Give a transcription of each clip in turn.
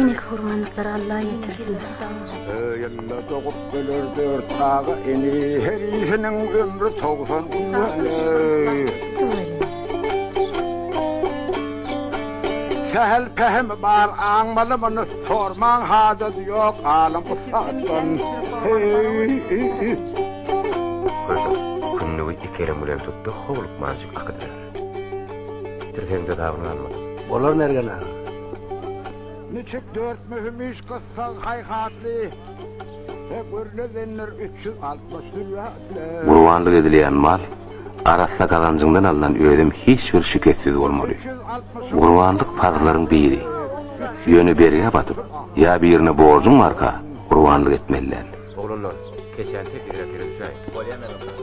Enek hurmanlyklary Alla ýetirsin. Ýylda dogup biler dört aga ini, her işiniň ömri togsan Sähel pähim bar aňmaly muny, sormaň hajat ýok alym ussatdan. Hey, Köşek, kündügi iki elem bilen tutdy, howlukmanjyk akydylar. Tirhegiňde dabyň galmaz. Bolar Mergen aga. Niçik dört möhüm iş gyssag haýhatly we gürledenler üç ýüz altmyş dürýatly. Gurbanlyk edilýän mal arassa gazanjyňdan alnan özem hiç bir şikessiz bolmaly. Gurbanlyk parzlaryň biri. Ýöne bergä batyp ýa birine borjuň barka gurbanlyk etmeli däl. Oglanlar, keçäni teklibine pere düşäýiň. Bolýa Mergen aga.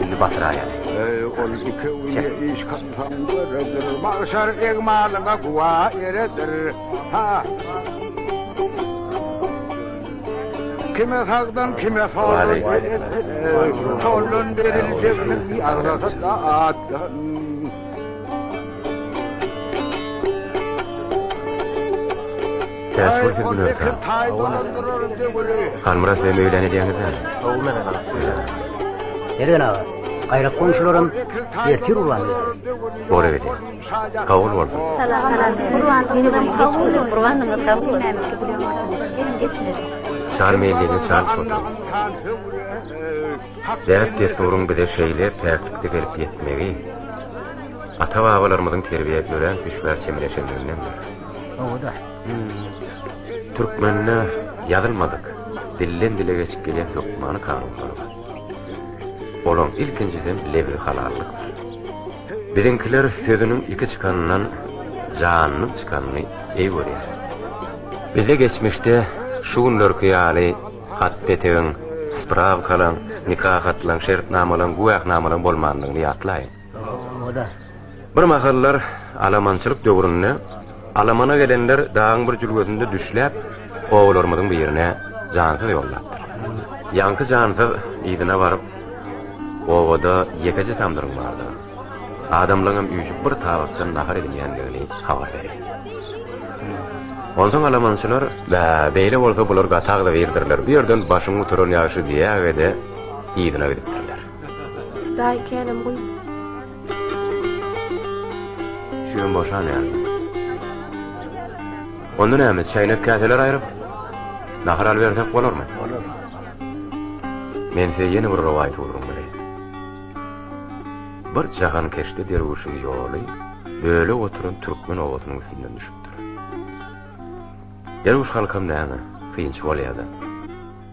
Bizi batyraýar. Eý, ol iki günde iş kylsaň döredir, magşar egmalyňa güwä eredir. Ha! Kime sagdyn, kime soldan beretdir, soldan beriljegini bi agzasy-da atdan. Täze bir film gülüp ýatyr. Halmyrat bilen öýlen edýäňiz däl. Gowy mezze galypdyr. Eren aga, gaýra goňşularam ertir urwan. Bora gedi. Kabul bolsun. Salam, salam. Urwan, meni bir geç gülüp, urwan nygma kabul nämişe gülüp otyr. Geçmez. Şar meýlini şar çotur. Däp desturyň bize şeýle päklikde gelip ýetmegi, ata-babalarymyzyň terbiýe görän düşbär çemeleşenliginden. Türkmende ýazylmadyk, dilden-dile geçip gelýän hökmany kanunlar bar. Olaň ilkinjisem lebzi halallykdyr. Biziňkiler sözüniň iki çykanyndan janynyň çykanyny eý görýär. Bizde geçmişde şu günlerki ýaly hat-petegiň, sprawkalaň, nika hatlaň, şertnamalaň, güwähnamalaň bolmandygyny ýatlaýyň. Bir mahallar alamançylyk döwründe alamana gelenler dagyň bir jülgesinde düşläp, obalarymyzyň birine jansyz ýollapdyr. Ýaňky jansyz yzyna baryp, Obada ýekeje tamdyryň bardygyny, adamlaryň hem üýşüp bir tabakdan nahar edinýändigini habar berýär. Onsoň alamançylar, Bä, beýle bolsa bular gatagzybirdirler, bu ýerden başyň guturan ýagşy diýäge-de, yzyna gidipdirler. Daýy känem guý. Çüýem boşan ýaly. Onda näme, çäýnek-käseler aýryp, nahar alybersek bolarmy? Bolar. Men size ýene bir rowaýat ugruň bilen. Bir jahan keşde derwüşiň ýoly bölek oturan türkmen obasynyň üstünden düşüpdir. Derwüş halkam näme, synçy bolýar-da.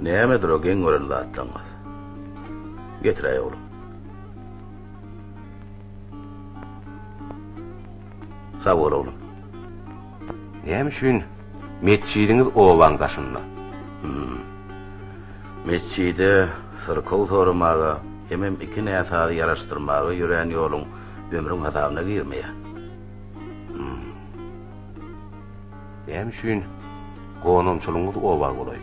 Nämedir o geň gören zatlaryňyz? Getiräý oglum. Sag bol oglum. Näme üçin metjidiňiz obaň daşynda? Hmm. Metjide syrkow soramaga, hemem iki näsazy ýaraşdyrmaga ýörän ýoluň ömrüň hasabyna girmeýär. Näme üçin gonamçylygyňyz oba golaý?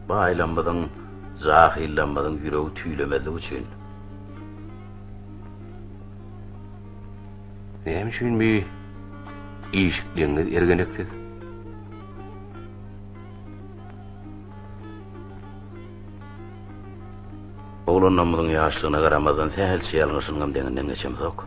Baýlamyzyň, jahyllamyzyň ýüregi tüýlemezligi üçin. Näme üçin bi işikligiňiz ergeneksiz? Oglanlarymyzyň ýaşlygyna garamazdan sähelçe ýalňyşynyňam deňinden geçemzok.